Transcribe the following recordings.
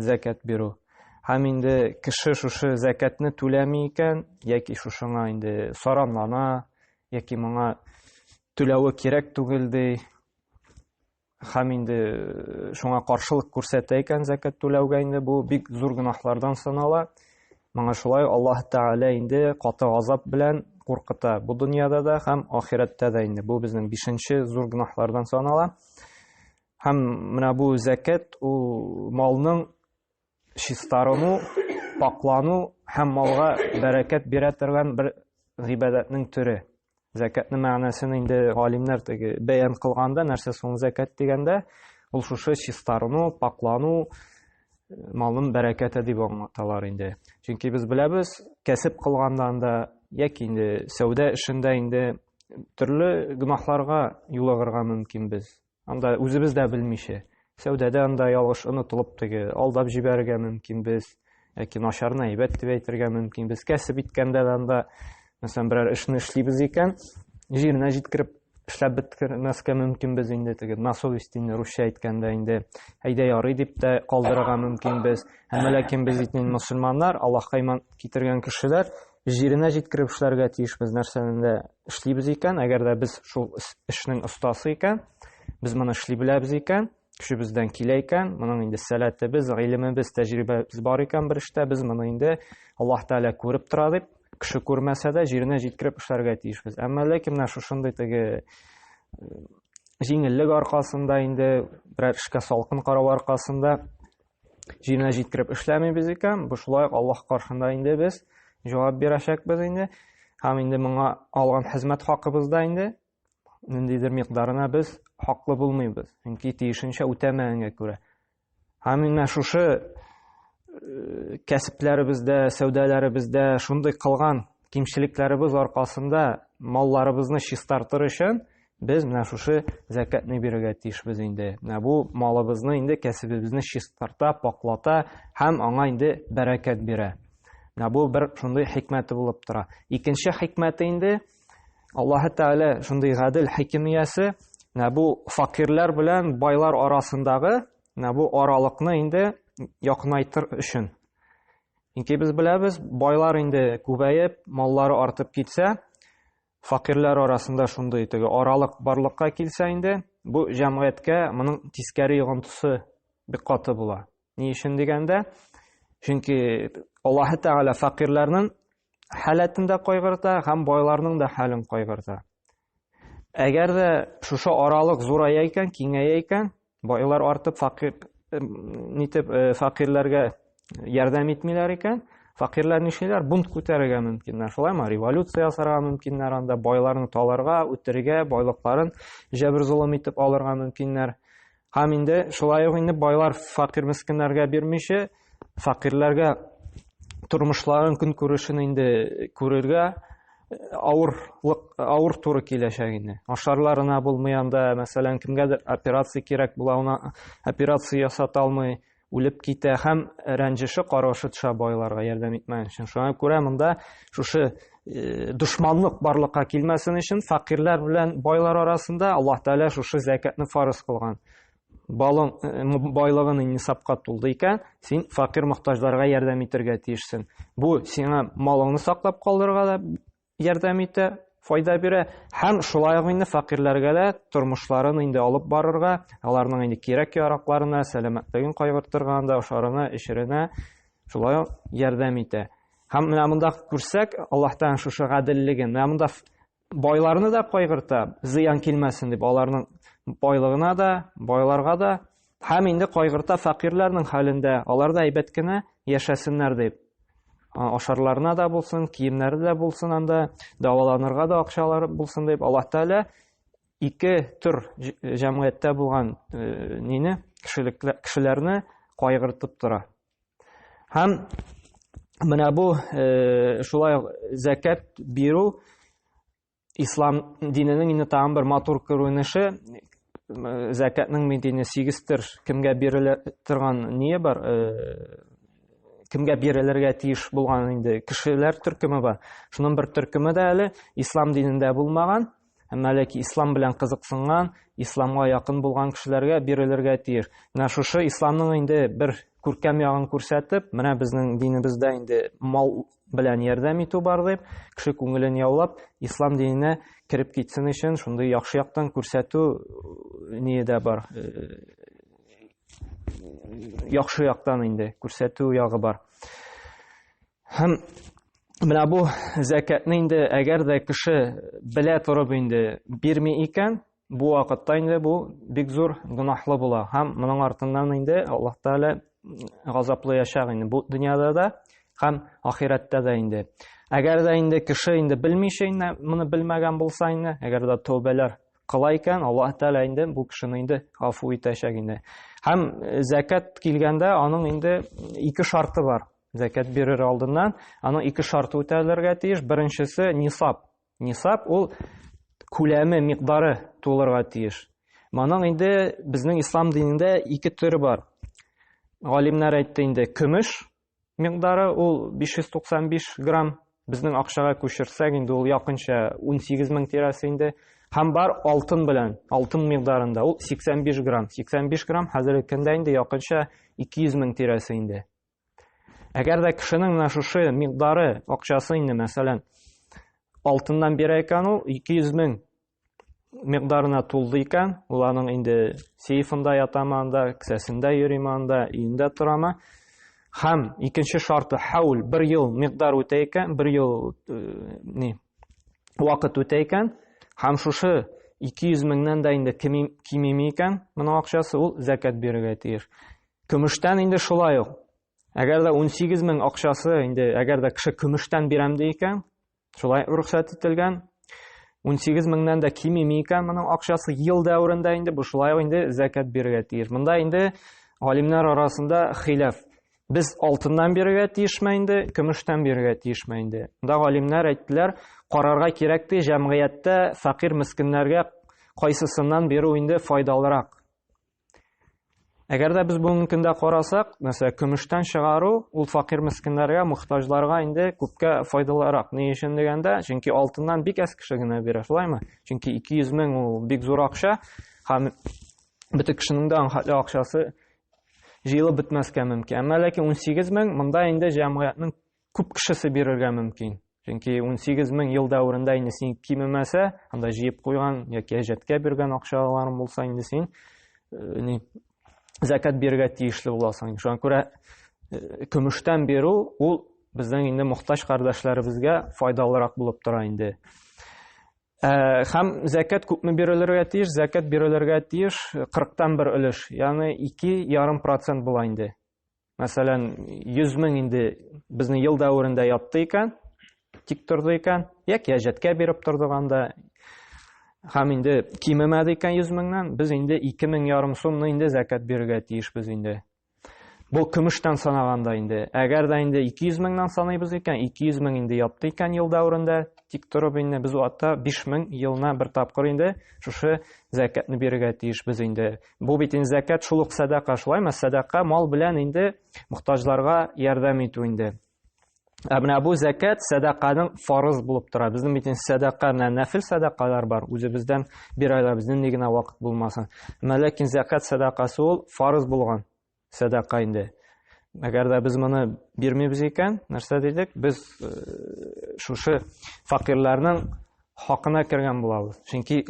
Зәкят бирү. Һәм инде кеше шушы зәкәтне түләми икән, яки шушыңа инде саранлана, яки моңа түләве кирәк түгел ди. Һәм инде э, шуңа каршылык күрсәтә икән зәкәт түләүгә инде бу бик зур гөнаһлардан санала. Моңа шулай Аллаһ Тәгалә инде каты азап белән куркыта. Бу дөньяда да һәм ахирәттә дә инде. Бу безнең бишенче зур гөнаһлардан санала. Һәм менә бу зәкәт ул малның чистарыну, паклану һәм малга бәрәкәт бирә торган бер гыйбадәтнең төре. Зәкәтнең мәгънәсен инде галимнәр теге бәян кылганда, нәрсә соң зәкәт дигәндә, ул шушы чистарыну, паклану, малның бәрәкәте дип аңлаталар инде. Чөнки без беләбез, кәсеп кылганда анда яки инде сәүдә эшендә инде төрле гөнаһларга юлыгырга мөмкин без. Анда үзебез дә белмичә, сәүдәдә анда ялгыш онытылып теге алдап җибәрергә мөмкин без, яки начарны әйбәт дип әйтергә мөмкин без. Кәсеп иткәндә дә анда, мәсәлән, берәр эшне эшлибез икән, җиренә җиткереп эшләп беткермәскә мөмкин без инде теге на совести инде русча әйткәндә инде әйдә ярый дип тә калдырырга мөмкин без. Әмма ләкин без инде мусульманнар, Аллаһка иман китергән кешеләр, җиренә җиткереп эшләргә тиешбез нәрсәнең дә эшлибез икән, әгәр дә без шул эшнең остасы икән, без моны эшли беләбез икән, көчебездән килә икән, моның инде сәләтебез, гыйлемебез, тәҗрибәбез бар икән бер эштә, без моны инде Аллаһ Тәгалә күреп тора дип, кеше күрмәсә дә җиренә җиткереп эшләргә тиешбез. Әмма ләкин менә шушындый теге э, җиңеллек аркасында инде берәр эшкә салкын карау аркасында җиренә җиткереп эшләмибез икән, бу шулай ук Аллаһ каршында инде без җавап бирәчәкбез инде. Һәм инде моңа алган хезмәт хакыбызда инде ниндидер микъдарына без хаклы булмыйбыз. Чөнки тиешенчә үтәмәгәнгә күрә. Һәм менә шушы э, кәсепләребездә, сәүдәләребездә шундый кылган кимчелекләребез аркасында малларыбызны чистартыр өчен Без менә шушы зәкәтне бирергә тиешбез инде. Менә бу малыбызны инде кәсебебезне чистарта, паклата һәм аңа инде бәрәкәт бирә. Менә бу бер шундый хикмәте булып тора. Икенче хикмәте инде Аллаһы Тәгалә шундый гадел хикимиясе, менә бу факирләр белән байлар арасындагы менә бу аралыкны инде якынайтыр өчен. Чөнки без беләбез, байлар инде күбәеп, маллары артып китсә, Факирләр арасында шундый теге аралык барлыкка килсә инде, бу җәмгыятькә моның тискәре йогынтысы бик каты була. Ни өчен дигәндә, чөнки Аллаһы Тәгалә факирларның халәтен дә кайгырта һәм байларның да хәлен кайгырта. Әгәр дә шушы аралык зурая икән, киңәя икән, Байлар артып факир нитеп э, факирләргә ярдәм итмиләр икән. Факирләр нишлиләр? Бунт күтәрергә мөмкиннәр. Шулаймы? Революция ясарга мөмкиннәр анда, байларны таларга, үтерергә, байлыкларын җәбер золым итеп алырга мөмкиннәр. Һәм инде шулай ук инде байлар факир мескеннәргә бирмичә, Факирләргә тормышларын, көнкүрешен инде күрергә авырлык авыр туры киләчәк инде. Ашарларына булмый анда, мәсәлән, кемгәдер операция кирәк була, ана операция ясата алмый, үлеп китә һәм рәнҗеше каргышы төшә байларга ярдәм итмәгән өчен. Шуңа күрә монда шушы э, дошманлык барлыкка килмәсен өчен факирләр белән байлар арасында Аллаһ Тәгалә шушы зәкәтне фарыз кылган. балың байлыгын нисапка тулды икән, син факир мохтаҗларга ярдәм итәргә тиешсең. Бу сиңа малыңны саклап калдырырга да ярдәм итә, файда бирә һәм шулай ук инде факирләргә дә тормышларын инде алып барырга, аларның инде кирәк-яракларына, сәламәтлеген кайгыртырга анда ашарына, эчеренә шулай ук ярдәм итә. Һәм менә монда күрсәк, Аллаһтан шушы гаделлеген, менә монда Байларны да кайгырта, зыян килмәсен дип, аларның байлыгына да, байларга да, һәм инде кайгырта фәкыйрьләрнең хәлендә, алар да әйбәт кенә яшәсеннәр дип. Ашарларына да булсын, киемнәре дә булсын анда, даваланырга да акчалары булсын дип, Аллаһ Тәгалә ике төр җәмгыятьтә булган э, нине, кешелекле кешеләрне кайгыртып тора. Һәм менә бу э, шулай зәкәт бирү ислам диненең инде тагын бер матур күренеше зәкәтнең медине сигестер кемгә бирелә торган ние бар э, кемгә бирелергә тиеш булган инде кешеләр төркеме бар шуның бер төркеме дә әле ислам динендә булмаган Әмма әле ки ислам белән кызыксынган, исламга якын булган кешеләргә бирелергә тиеш. Менә шушы исламның инде бер күркәм ягын күрсәтеп, менә безнең динебездә инде мал белән ярдәм итү бар дип, кеше күңелен яулап, ислам диненә кереп китсен өчен шундый яхшы яктан күрсәтү э, ние дә бар. Э, яхшы яктан инде күрсәтү ягы бар. Һәм менә бу зәкәтне инде әгәр дә кеше белә торып инде бирми икән, бу вакытта инде бу бик зур гөнаһлы була һәм моның артыннан инде Аллаһ Тәгалә газаплаячак инде бу дөньяда да һәм ахирәттә дә инде. Әгәр дә инде кеше инде белмичә инде моны белмәгән булса инде, әгәр дә тәүбәләр кыла икән, Аллаһ Тәгалә инде бу кешене инде гафу итәчәк инде. Һәм зәкәт килгәндә аның инде ике шарты бар. Зәкәт бирер алдыннан аның ике шарты үтәлергә тиеш. Беренчесе нисап. Нисап ул күләме, микъдары тулырга тиеш. Моның инде безнең ислам динендә ике төре бар. Галимнәр әйтте инде, көмеш микъдары ул 595 грамм, безнең акчага күчерсәк инде ул якынча 18 мең тирәсе инде. Һәм бар алтын белән, алтын микъдарында ул 85 грамм. 85 грамм хәзерге көндә инде якынча 200 мең тирәсе инде. Әгәр дә кешенең менә шушы микъдары акчасы инде, мәсәлән, алтыннан бирә икән ул 200 мең микъдарына тулды икән, ул аның инде сейфында ятамы анда, кесәсендә йөриме анда, өендә торамы? Һәм икенче шарты хаул бер ел микъдар үтә икән, бер ел э, ни вакыт үтә икән, һәм шушы 200 меңнән дә инде кимеми икән, моның акчасы ул зәкәт бирергә тиеш. Көмештән инде шулай ук. Әгәр дә 18 мең акчасы инде әгәр дә кеше көмештән бирәм ди икән, шулай рөхсәт ителгән. 18 меңнән дә кимеми икән моның акчасы ел дәверендә инде бу шулай ук инде зәкәт бирергә тиеш. Монда инде галимнәр арасында хилаф. Без алтыннан бирергә тиешме инде, көмештән бирергә тиешме инде? Монда галимнәр әйттеләр, карарга кирәк ди, җәмгыятьтә фәкыйрь мескеннәргә кайсысыннан бирү инде файдалырак? Әгәр дә без бүгенге көндә карасак, мәсәлән, көмештән чыгару ул факир мескеннәргә, мохтаҗларга инде күпкә файдалырак. Ни өчен дигәндә, чөнки алтыннан бик әз кеше генә бирә, шулаймы? Чөнки 200 мең ул бик зур акча, һәм бөтен кешенең дә аңхатлы акчасы җыелып бетмәскә мөмкин. Әмма ләкин 18 мең монда инде җәмгыятьнең күп кешесе бирергә мөмкин. Чөнки 18 мең ел дәверендә инде син кимемәсә, анда җыеп куйган яки әҗәткә биргән акчаларың булса инде син э, ни закат бирергә тиешле буласың. Шуңа күрә э, көмештән бирү ул безнең инде мохтаҗ кардәшләребезгә файдалырак булып тора инде. Э, һәм закат күпме бирелергә тиеш? Закат бирелергә тиеш 40 тан бер өлеш, ягъни 2,5% була инде. Мәсәлән, 100 мең инде безнең ел дәверендә ятты икән, тик торды икән, яки әҗәткә биреп тордык анда. Һәм инде кимемәде икән 100 меңнән, без инде 2 мең ярым сумны инде зәкәт бирергә тиешбез инде. Бу көмештән санаганда инде. Әгәр дә инде 200 меңнән саныйбыз икән, 200 мең инде ятты икән ел дәверендә, тик торып инде без атта 5 мең елына бер тапкыр инде шушы зәкәтне бирергә тиешбез инде. Бу бит инде зәкәт шул ук сәдака, шулаймы? Сәдака мал белән инде мохтаҗларга ярдәм итү инде. Ә менә бу зәкәт сәдаканың фарыз булып тора. Безнең бит инде сәдака менә нәфил сәдакалар бар. Үзебездән бирәләр, безнең ни генә вакыт булмасын. Ләкин зәкәт сәдакасы ул фарыз булган. сәдака инде. Әгәр дә без моны бирмибез икән, нәрсә дидек? Без э, шушы факирларның хакына кергән булабыз. Чөнки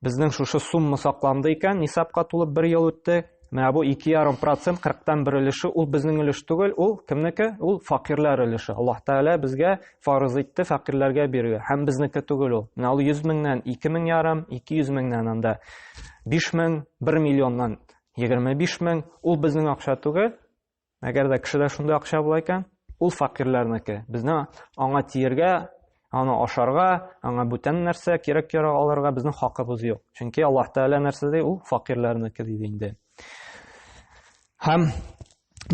безнең шушы сумма сакланды икән, нисапка тулып бер ел үтте. Менә бу 2,5%, 40-тан бер өлеше, ул безнең өлеш түгел, ул кемнеке? Ул факирлар өлеше. Аллаһ Тәгалә безгә фарыз итте факирларга бирергә. Һәм безнеке түгел ул. Менә ул 100 меңнән 2 мең ярым, 200 меңнән анда 5 мең, 1 миллионнан Егерме биш мең, ул безнең акча түгел, әгәр дә кешедә шундый акча була икән, ул факирләрнеке. Безне аңа тиергә, аны ашарга, аңа бүтән нәрсә кирәк ярак алырга безнең хакыбыз юк. Чөнки Аллаһ Тәгалә нәрсә ди, ул факирләрнеке диде инде. Һәм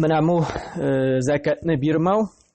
менә бу э, зәкәтне бирмәү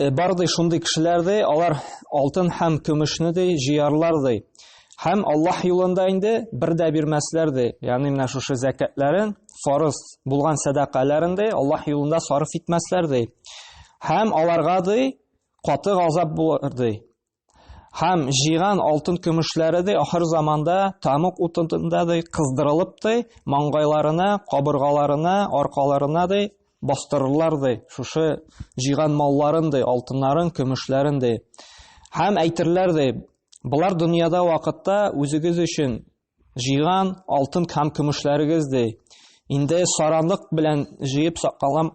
Э, бар ди шундый кешеләр ди алар алтын һәм көмешне ди җыярлар ди һәм аллаһ юлында инде бер дә бирмәсләр ди ягъни менә шушы зәкәтләрен фарыз булган сәдакаларын ди аллаһ юлында сарыф итмәсләр ди һәм аларга ди каты газап булыр ди Һәм җыйган алтын-көмешләре дә ахыр заманда тамык утында да кыздырылып та, маңгайларына, кабыргаларына, аркаларына да бастырырлар да, шушы җыйган малларын да, алтыннарын, көмешләрен дә. Һәм әйтерләр дә, Болар дөньяда вакытта үзегез өчен Җыйган алтын һәм көмешләрегез ди. Инде саранлык белән җыеп сакланган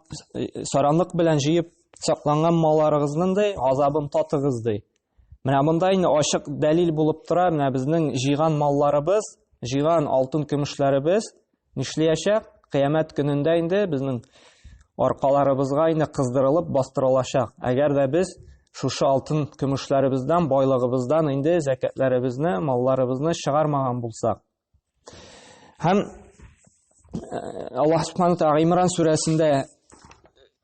саранлык белән җыеп сакланган малларыгызның ди азабын татыгыз ди. Менә монда инде ачык дәлил булып тора, менә безнең җыйган малларыбыз, җыйган алтын көмешләребез Нишлиячәк? Кыямәт көнендә инде безнең аркаларыбызга инде кыздырылып бастырылачак. Әгәр дә без шушы алтын көмешләребездән, байлыгыбыздан инде зәкәтләребезне, малларыбызны чыгармаган булсак. Һәм э, Аллаһ Субхану Тәгалә Имран сүрәсендә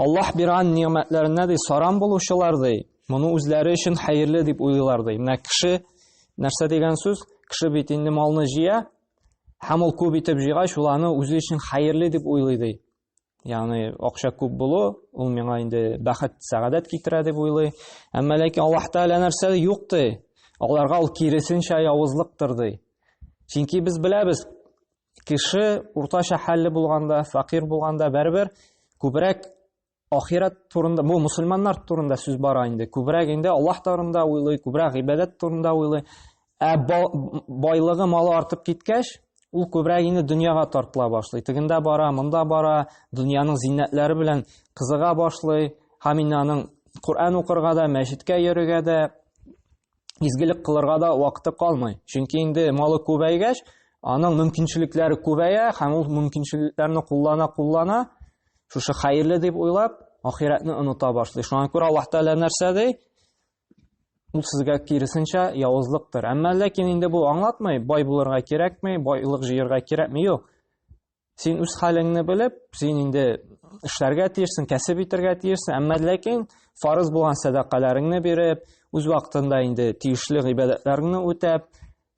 Аллаһ биргән нигъмәтләренә ди сарам булучылар ди, моны үзләре өчен хәерле дип уйлыйлар ди. Менә кеше нәрсә дигән сүз? Кеше бит инде малны җыя, һәм ул күп итеп җыйгач, ул аны үзе өчен хәерле дип уйлый ди. Ягъни акча күп булу, ул миңа инде бәхет, сәгадәт китерә дип уйлый. Әмма ләкин Аллаһ Тәгалә нәрсә ди? Юк ди. Аларга ул киресенчә явызлыктыр ди. Чөнки без беләбез, Кеше уртача хәлле булганда, факир булганда бәрбер күбрәк ахират турында, бу мусульманнар турында сүз бара инде. Күбрәк инде Аллаһ турында уйлый, күбрәк гыйбадәт турында уйлый. Ә байлыгы, малы артып киткәч, ул күбрәк инде дөньяга тартыла башлый. Тегендә бара, монда бара, дөньяның зиннәтләре белән кызыга башлый. Һәм инде аның Коръән укырга да, мәчеткә йөрергә дә, изгелек кылырга да вакыты калмый. Чөнки инде малы күбәйгәч, аның мөмкинчелекләре күбәя һәм ул мөмкинчелекләрне куллана-куллана, шушы хәерле дип уйлап, ахирәтне оныта башлый. Шуңа күрә Аллаһ Тәгалә нәрсә ди? Ул сезгә киресенчә явызлыктыр. Әмма ләкин инде бу аңлатмый, бай булырга кирәкми, байлык җыярга кирәкми, юк. Син үз хәлеңне белеп, син инде эшләргә тиешсең, кәсеп итәргә тиешсең, әмма ләкин фарыз булган сәдакаларыңны биреп, үз вакытында инде тиешле гыйбадәтләреңне үтәп,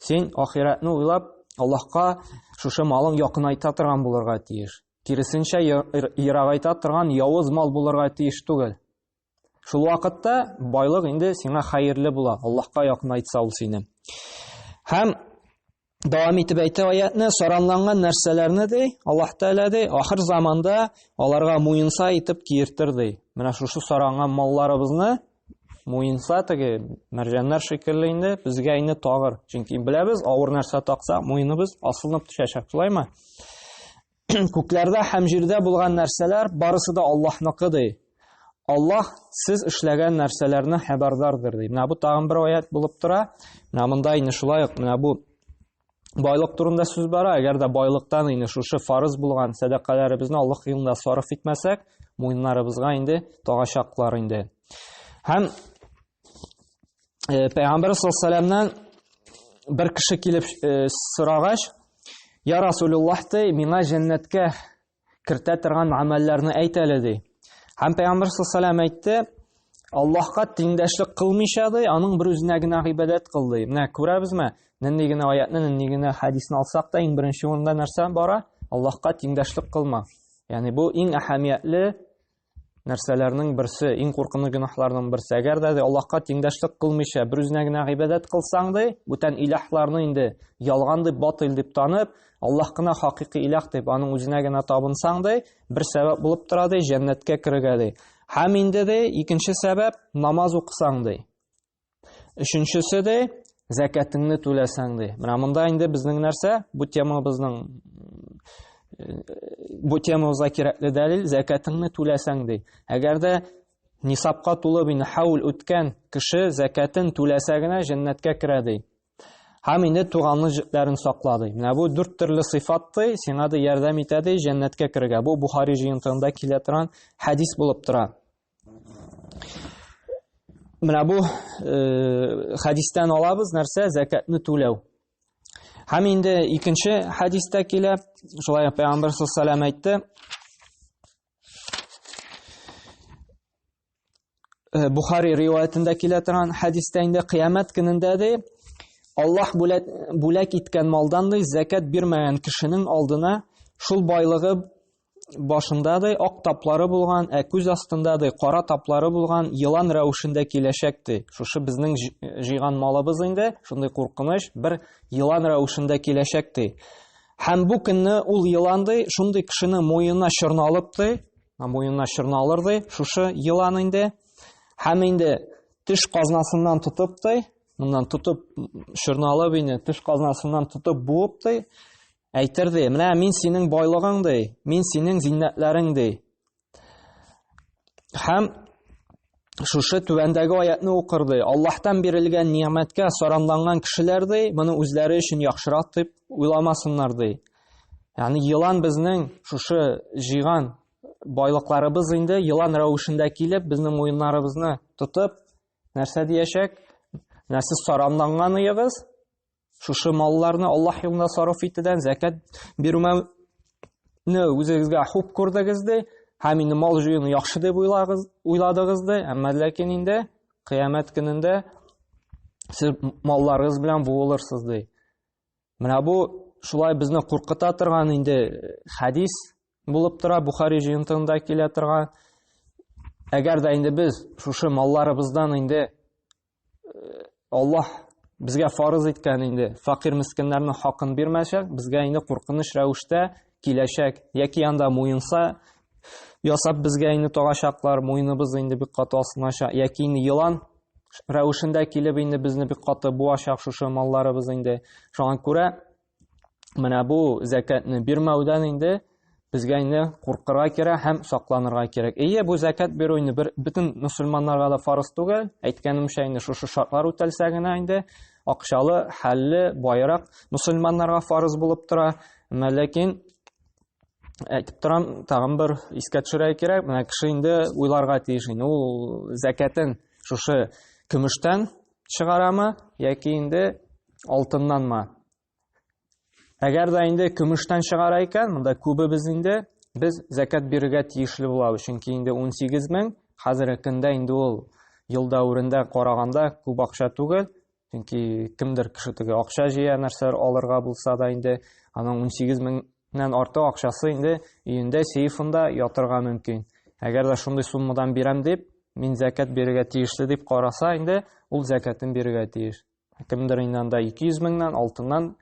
син ахиратны уйлап, Аллаһка шушы малың якынайта торган булырга тиеш. Киресенчә, ерагайта торган явыз мал булырга тиеш түгел. Шул вакытта байлык инде сиңа хәерле була, Аллаһка якынайтса ул сине. Һәм Дәвам итеп әйтә аятны, саранланган нәрсәләрне ди, Аллаһ Тәгалә ди, ахыр заманда аларга муенса итеп киертер ди. Менә шушы саранган малларыбызны муенса теге мәрҗәннәр шикелле инде безгә инде тагыр. Чөнки беләбез, авыр нәрсә такса, муеныбыз асылынып төшәчәк, шулаймы? күкләрдә һәм җирдә булган нәрсәләр барысы да Аллаһныкы ди. Аллаһ сез эшләгән нәрсәләрне хәбәрдардыр ди. Менә бу тагын бер аят булып тора. Менә монда инде шулай ук менә бу байлык турында сүз бара. Әгәр дә байлыктан инде шушы фарыз булган сәдакаларыбызны Аллаһ юлында сарыф итмәсәк, муеннарыбызга инде тагачаклар инде. Һәм э, Пәйгамбер саллаллаху бер кеше килеп э, сорагач, "Я Расулуллах, ты миңа җәннәткә кертә торган амәлләрне әйт әле" ди. Һәм Пәйгамбер саллаллаху әйтте, Аллаһка тиңдәшлек кылмыйча ди, аның бер үзенә генә гыйбадәт кыл ди. Менә күрәбезме? Нинди генә аятны, нинди генә хадисны алсак та, иң беренче урында нәрсә бара? Аллаһка тиңдәшлек кылма. Ягъни бу иң әһәмиятле нәрсәләрнең берсе, иң куркыныч гөнаһларның берсе. Әгәр дә Аллаһка тиңдәшлек кылмыйча, бер үзенә генә гыйбадәт кылсаң ди, бүтән илаһларны инде ялган дип, батыл дип танып, Аллаһ кына хакыйкый илаһ дип, аның үзенә генә табынсаң ди, бер сәбәп булып тора ди, җәннәткә керергә ди. Һәм инде ди, икенче сәбәп намаз укысаң ди. Өченчесе дә зәкәтеңне түләсәң ди. Менә монда инде безнең нәрсә? Бу темабызның э, бу темабызга кирәкле дәлил зәкәтеңне түләсәң ди. Әгәр дә нисапка тулып инде хаул үткән кеше зәкәтен түләсә генә җәннәткә керә ди. Һәм инде туганлы җепләрен сакла ди. Менә бу дүрт төрле сыйфат ди, сиңа да ярдәм итә ди җәннәткә керергә. Бу Бухари җыентыгында килә торган хәдис булып тора. Менә бу э, хадистан алабыз нәрсә закатны түләү. Һәм инде икенче хадистә килә, шулай пәйгамбер саллаллаһу әйтте. Э, Бухари риваятендә килә торган хадистә инде кыямәт көнендә ди, Аллаһ бүләк, бүләк иткән малдан ди закат бирмәгән кешенең алдына шул байлыгы башындадый ак таплары булган, ә күз астындадый кара таплары булган елан рәвешендә киләчәк ди. Шушы безнең җыйган малыбыз инде, шундый куркыныч бер елан рәвешендә киләчәк ди. Һәм бу көнне ул елан ди, шундый кешене муенына чорналып ди, муенына чорналыр ди, шушы елан инде. Һәм инде теш казнасыннан тотып ди, моннан тотып чорналып инде теш казнасыннан тотып буып ди. Әйтер ди, менә мин синең байлыгың ди, мин синең зиннәтләрең ди. Һәм шушы түбәндәге аятны укыр ди. Аллаһтан бирелгән ни'мәткә саранланган кешеләр ди, моны үзләре өчен яхшырак дип уйламасыннар ди. Ягъни елан безнең шушы җыйган байлыкларыбыз инде елан рәвешендә килеп, безнең муеннарыбызны тотып, нәрсә диячәк? Нәрсез саранланган ыегыз? Шушы малларны Аллаһ юлына сарыф итүдән зәкәт бирүне үзегезгә хуп күрдегез ди, һәм инде мал җыюны яхшы дип уйладыгыз ди, әмма ләкин инде кыямәт көнендә сез малларыгыз белән буылырсыз ди. Менә бу шулай безне куркыта торган инде э, хәдис булып тора, Бухари җыентыгында килә торган. Әгәр дә инде без шушы малларыбыздан инде Аллаһ безгә фарыз иткән инде факир мескеннәрнең хакын бирмәячәк, безгә инде куркыныч рәвештә киләчәк, яки анда муенса ясап безгә инде тагачаклар, муеныбыз инде бик каты асылыначак, яки инде елан рәвешендә килеп инде безне бик каты буачак шушы малларыбыз инде. Шуңа күрә менә бу зәкәтне бирмәүдән инде безгә инде куркырга кирәк һәм сакланырга кирәк. Әйе, бу зәкәт бирү инде бер бөтен мусульманнарга да фарыз түгел. Әйткәнемчә, инде шушы шартлар үтәлсә генә инде акчалы, хәлле, байрак мусульманнарга фарыз булып тора. Менә ләкин әйтеп торам, тагын бер искә төшерә кирәк. Менә кеше инде уйларга тиеш инде ул зәкәтен шушы көмештән чыгарамы яки инде алтыннанмы әгәр дә инде көмештән чыгара икән монда күбебез инде без зәкәт бирергә тиешле булабыз чөнки инде 18 мең хәзерге көндә инде ул ел дәверендә караганда күп акча түгел чөнки кемдер кеше теге акча җыя нәрсәләр алырга булса да инде аның 18 мең Нән арты акчасы инде өендә, сейфында ятырга мөмкин. Әгәр дә шундый суммадан бирәм дип, мин зәкәт бирергә тиешле дип караса, инде ул зәкәтен бирергә тиеш. Кемдер инде анда 200 меңнән, алтыннан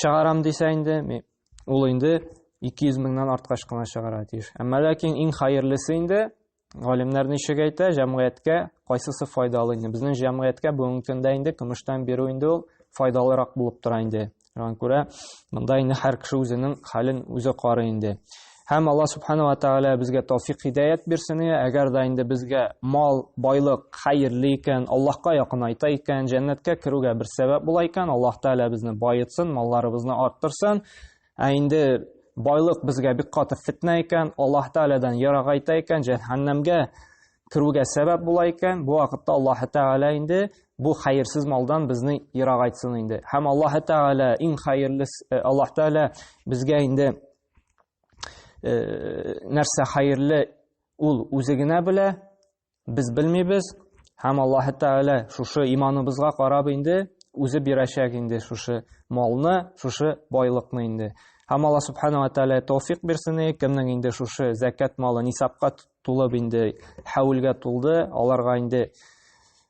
чыгарам дисә инде, ул инде 200 меңнән арткач кына чыгарга тиеш. Әмма ләкин иң хәерлесе инде Галимнәр ничек әйтә, җәмгыятькә кайсысы файдалы инде? Безнең җәмгыятькә бүгенге көндә инде көмештән бирү инде ул файдалырак булып тора инде. Шуңа күрә монда инде һәр кеше үзенең хәлен үзе карый инде. Һәм Алла субхана ва тәгалә безгә тауфик хидәят бирсен. Әгәр дә инде безгә мал, байлык хәерле икән, Аллаһка якынайта икән, җәннәткә керүгә бер сәбәп була икән, Аллаһ тәгалә безне баетсын, малларыбызны арттырсын. Ә инде байлык безгә бик каты фетнә икән, Аллаһ Тәгаләдән ярагайта икән, җәһәннәмгә керүгә сәбәп була икән, бу вакытта Аллаһ Тәгалә инде бу хәерсез малдан безне ярагайтсын инде. Һәм Аллаһ Тәгалә иң хәерле э, Аллаһ Тәгалә безгә инде э, нәрсә хәерле ул үзе генә белә, Без белмибез, һәм Аллаһ Тәгалә шушы иманыбызга карап инде үзе бирәчәк инде шушы малны, шушы байлыкны инде. Һәм Аллаһ Субханала Тәгалә тауфик бирсен, кемнең инде шушы зәкят малы нисапка тулып инде, хәвилгә тулды, аларга инде